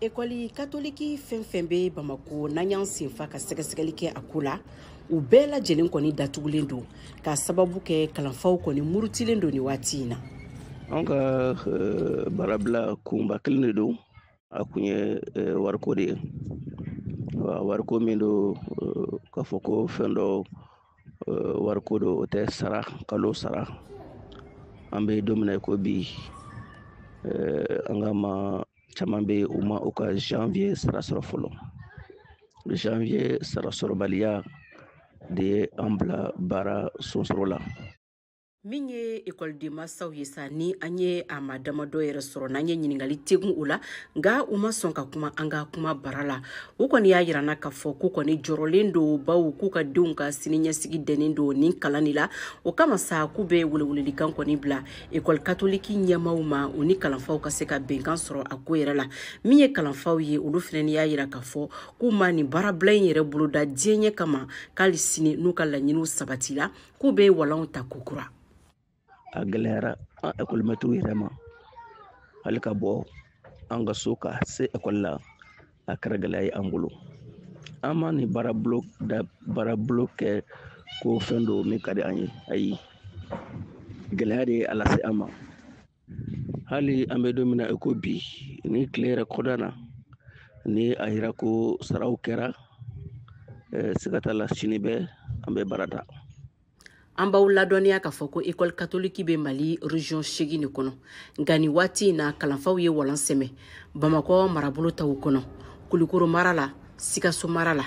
ekɔli katoliki fɛn fɛn bɛ bamako n'an y'an senfa ka sɛgɛsɛgɛli kɛ a ko la u bɛɛ lajɛlen kɔni datugulen don k'a sababu kɛ kalanfaw kɔni murutilen don nin waati in na an ka eh, baarabila kunba kelen de don a kun ye eh, wariko de ye wariko min don eh, k'a fɔ ko fɛn dɔ wariko don o tɛ sara kalo sara an bɛ don min na i ko bi an ka maa caman bɛ u ma u ka janvier sara sɔrɔ fɔlɔ janvier sara sɔrɔbaliya de ye an bila baara sonsoro la min ye ekɔliden masaw ye sa ni an ye a maa damadɔ yɛrɛ sɔrɔ n'an ye ɲininkali tegun o la nka u ma sɔn ka kuma an ka kumabara la u kɔni y'a yira an na k'a fɔ k'u kɔni jɔrɔlen don baw k'u ka denw ka siniɲɛsigi dɛnnen don nin kalan de la o kama sa k'u bɛ welewelelikan kɔni bila ekɔli katoliki ɲɛmaaw ma u ni kalanfaw ka se ka bɛnkan sɔrɔ a ko yɛrɛ la min ye kalanfaw ye olu fɛnɛ y'a yira k'a fɔ k'u ma nin baarabila in yɛrɛ boloda diyanye kama k'ali sini n'u ka laɲiniw sabatila k'u bɛ walanw ta kokura a gɛlɛyara an ekɔlimɛtiriw yɛrɛ ma hali ka bɔ an ka so ka se ekɔli la a kɛra gɛlɛya ye an bolo an ma nin baarabila kɛ ko fɛn dɔ min ka di an ye ayi gɛlɛya de ye a lase an ma hali an bɛ don min na i ko bi ni tile yɛrɛ kɔda na ni a yira ko saraw kɛra siga t'a la sini bɛ an bɛ baara ta an b'aw ladɔnniya k'a fɔ ko ekɔli katoliki bɛ mali region segin de kɔnɔ nka nin waati in na kalanfaw ye walan sɛmɛ bamakɔ marabolo taw kɔnɔ kulikoro mara la sikaso mara la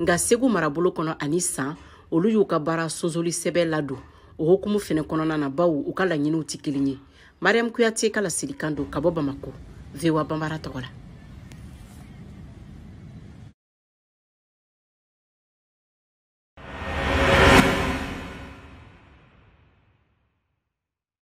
nka segu marabolo kɔnɔ ani san olu y'u ka baara sonsoli sɛbɛn ladon o hukumu fɛnɛ kɔnɔna na baw u ka laɲiniw tɛ kelen ye mariam kuyate ka laselikan don ka bɔ bamako voa bambara tɔgɔ la